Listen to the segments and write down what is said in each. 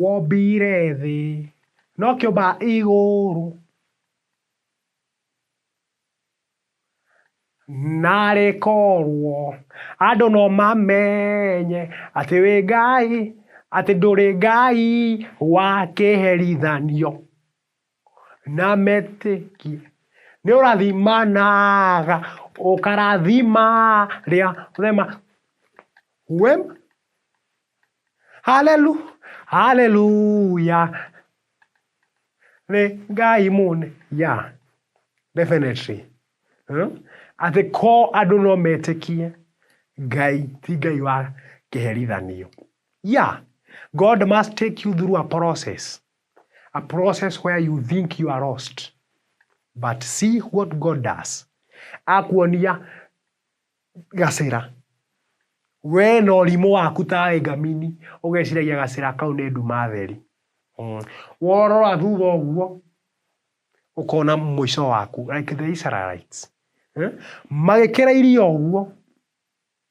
Wombire thĩ. No kĩũmba igũrũ. Na rĩkorwo. Andũ no mamenye. Atĩ wĩ Ngai. Atĩ ndũrĩ Ngai wa kĩherithanio. Na metĩkie. Nĩ ũrathimanaga, ũkarathima rĩa rema. Wem. Halelu, haleluya. Nĩ Ngai mũne. Yeah. Definitely. Hmm? Atĩ ko andũ no metĩkie Ngai, ti Ngai wa kĩherithanio. Yeah. God must take you through a process. A process where you think you are lost but see what God does. Akuonia gacĩra we na ũrimũ waku ta ngamini ũgeciragia gacĩra kau nĩ nduma theri mm. worora thutha ũguo ũkona mũico waku like the Israelites eh? magĩkĩra irio ũguo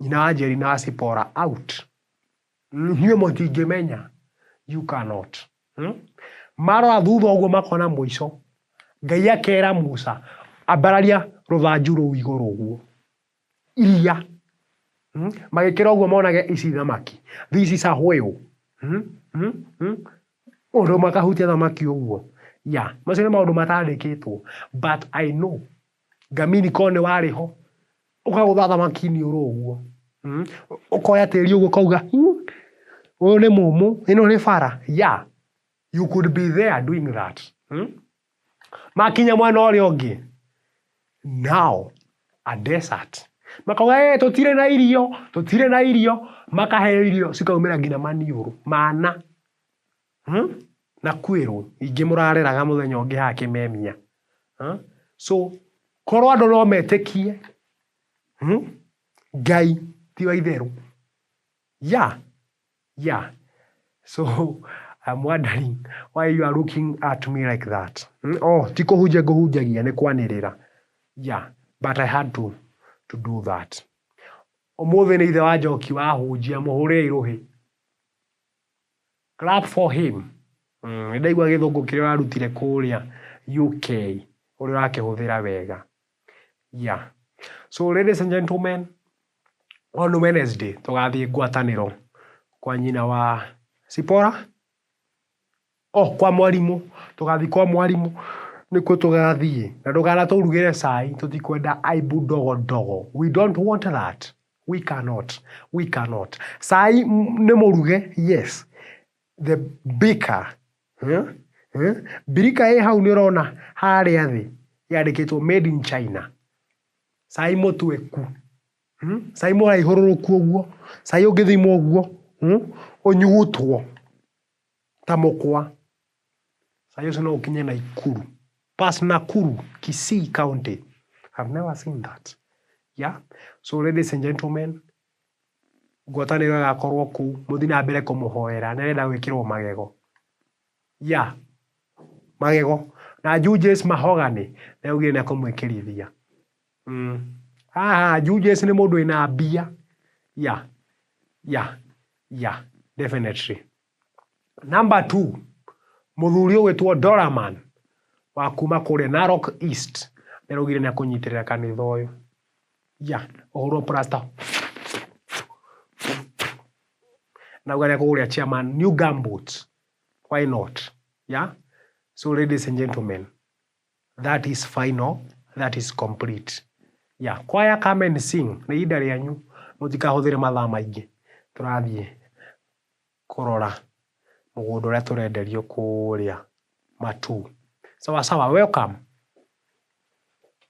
Nyina wa Njeri na wa Sipora out. Inyuĩ mũtingĩmenya, you cannot. Hmm? Marora thutha ũguo makona mũico. Ngai akera Musa, ambararia rũthanju rũu igũrũ ũguo. Iria. Hmm? Magĩkĩra ũguo monage ici thamaki. This is a whale. Hmm? Hmm? Hmm? Ũndũ makahutia thamaki ũguo. Ya, macio nĩ maũndũ matandĩkĩtwo. But I know Ngamini korwo nĩ warĩ ho, ũkagũtha thamaki iniũrũ ũguo. Hmm? Ũkoya tĩri ũguo ũkauga, "Hmm, ũyũ nĩ mũmũ, ĩno nĩ bara. Yeah, you could be there doing that. Hmm? Makinya mwena ũrĩa ũngĩ, now a desert. Makauga, "Eh, tũtirĩ na irio, tũtirĩ na irio." Makaheo irio cikaumĩra nginya maniũrũ, mana. Huh? Na kwĩrwo ingĩ mũrareraga mũthenya ũngĩ haha kĩmemia. Huh? So korwo andũ no metĩkie hmm? Ngai ti wa itherũ. Ya, ya. So I'm wondering why you are looking at me like that. Hmm? Oh, ti kũhunjia ngũhunjagia nĩ kwanĩrĩra. Ya, but I had to, to do that. Ũmũthĩ nĩ ithe wa njoki wahunjia mũhũrĩre irũhĩ. Clap for him. Nĩ ndaigua gĩthũngũ kĩrĩa ũrarutire kũrĩa UK ũrĩa ũrakĩhũthĩra wega. Yeah. So ladies and gentlemen, on Wednesday tũgathiĩ ngwatanĩro kwa nyina wa Sipora. O kwa mwarimũ, tũgathiĩ kwa mwarimũ nĩkuo tũgathiĩ na ndũkanatũrugĩre cai tũtikwenda aibu ndogo ndogo we don't want that we cannot we cannot cai nĩ mũruge yes the baker birika ĩ hau nĩũrona harĩa thĩ yandĩkĩtwo made in China cai mũtu eku cai mũraihũrũrũku ũguo cai ũngĩthimwo ũguo ũnyugutwo. ta mũkwa. Saa hiyo si no ũkinye Naikuru. Pass Nakuru, Kisii County. I've never seen that. Yeah? So ladies and gentlemen, ngwatanĩro ĩgakorwo kũu, mũthi na mbere kũmũhoera, nĩarenda gwĩkĩrwo magego. Yeah. Magego. Na Julius Mahogany, nĩaugire nĩakũmwĩkĩrithia. Mm. Haha Julius nĩ mũndũ wĩna mbia. Yeah. Yeah. Yeah. Definitely. Number two, mũthuri ũgwĩtwo Doraman wa kuma kũrĩa Narok East nĩ araugire nĩ akũnyitĩrĩra kanitha ũyũ. Yeah. Ũhũrwo plaster. Na ũgare kũgũrĩa chairman new gumboots. Why not? Yeah. So ladies and gentlemen, That is final, that is complete. Yeah, choir come and sing. Nĩ ihinda rĩanyu, mũtikahũthĩre mathaa maingĩ. Tũrathiĩ kũrora mũgũnda ũrĩa tũrenderio kũrĩa Matuu. Sawa sawa, welcome.